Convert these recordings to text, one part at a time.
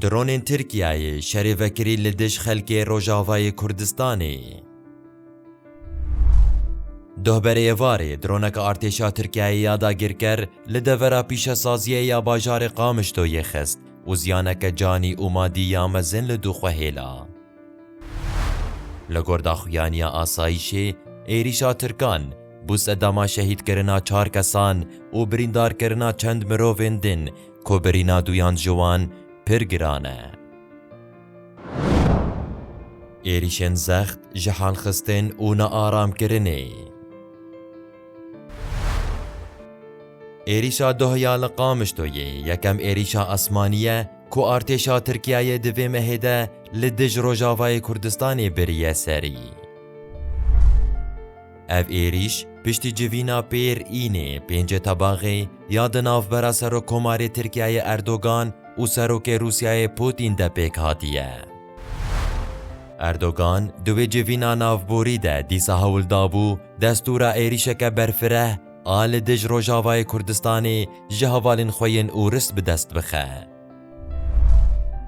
Dronên Tirkiyeyê şerê vekirî li dij xelkê Rojavayê Kurdistanê. Duh berê êvarê droneke artêşa Tirkiyeyê ya dagirker li devera pîşesaziyê ya bajarê Qamişloyê xist û ziyaneke canî û madî ya mezin li dû xwe hêla. Li gor daxuyaniya asayîşê, êrîşa Tirkan, bû sedema şehîdkirina çar kesan û birîndarkirina çend mirovên din ku birîna duyan ji wan pir giran e. Êrîşên zext ji halxistin û nearamkirinê. Êrîşa Dohiya li Qamişloyê yekem êrîşa esmanî ye Ku artêşa Tirkiyeyê di vê mehê de li dij Rojavayê Kurdistanê biriye serî. Ev êrîş piştî civîna pêr Înê pêncê tebaxê ya di navbera Serokkomarê Tirkiyeyê Erdogan û Serokê Rûsyayê Pûtîn de pêk hatiye. Erdogan di wê civîna navborî de dîsa hewl dabû destûra êrîşeke berfireh, a li dij Rojavayê Kurdistanê ji hevalên xwe yên ûrist bi dest bixe.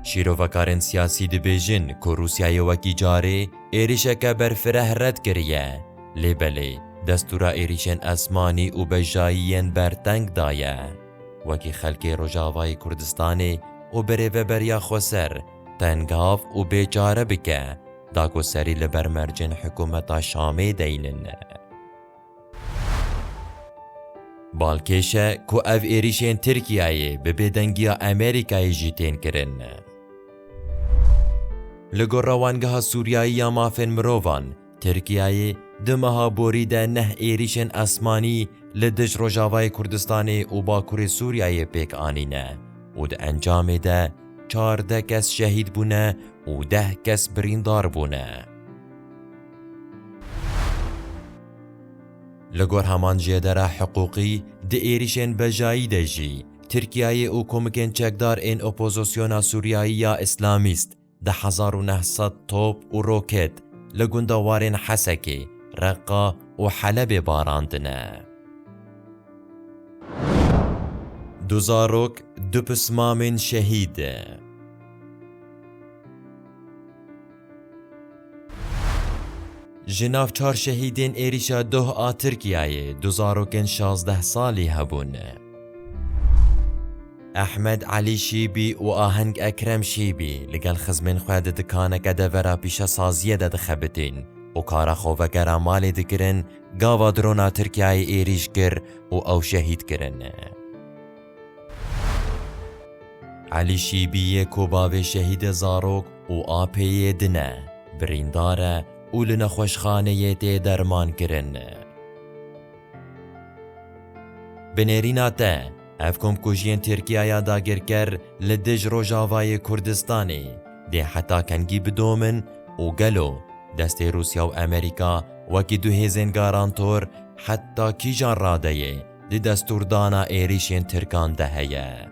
Şîrovekarên siyasî dibêjin ku Rûsyayê wekî carê êrîşeke berfireh red kiriye, lê belê destûra êrîşên esmanî û bejayî yên ber teng daye. Wekî xelkê Rojavayê Kurdistanê û birêveberiya xweser tengav û bêçare bike, dakoserî li ber mercên hikûmeta Şamê deynin. Balkêş e ku ev êrîşên Tirkiyeyê bi bêdengiya Amerîkayê jî tên kirin. Li gor Rewangeha Sûriyayî ya Mafên Mirovan, Tirkiyeyê di meha borî de neh êrîşên esmanî li dij Rojavayê Kurdistanê û Bakurê Sûriyeyê pêk anîne û di encamê de çardeh kes şehîd bûne û deh kes birîndar bûne. Li gor heman jêdera hiqûqî, di êrîşên bejayî de jî Tirkiyeyê û komikên çekdar ên opozosyona Sûriyayî ya Îslamîst di hezar û neh sed top û roket li gunda warên Hesekê, Reqqa û Helebê barandine. Du zarok, du pismamên şehîd. Ji nav çar şehîdên êrîşa doh a Tirkiyeyê du zarokên şazdeh salî hebûn. Ehmed Elî Şîbî û Aheng Ekrem Şîbî li gel xizmên xwe di dikaneke devera pîşesaziyê de dixebitîn û kara xwe vegera malê dikirin, gava drona Tirkiyeyê êrîş kir û ew şehîd kirin. Elî Şîbî yê ku bavê Şehîdê Zarok û apê yê din e, birîndar e û li nexweşxaneyê tê dermankirin. Bi nêrîna te, ev komkujiyên Tirkiya ya dagirker li dij Rojavayê Kurdistanê dê heta kengî bidomin û gelo destê Rûsya û Amerîka wekî du hêzên garantor heta kîjan radeyê di destûrdana êrîşên Tirkan de heye.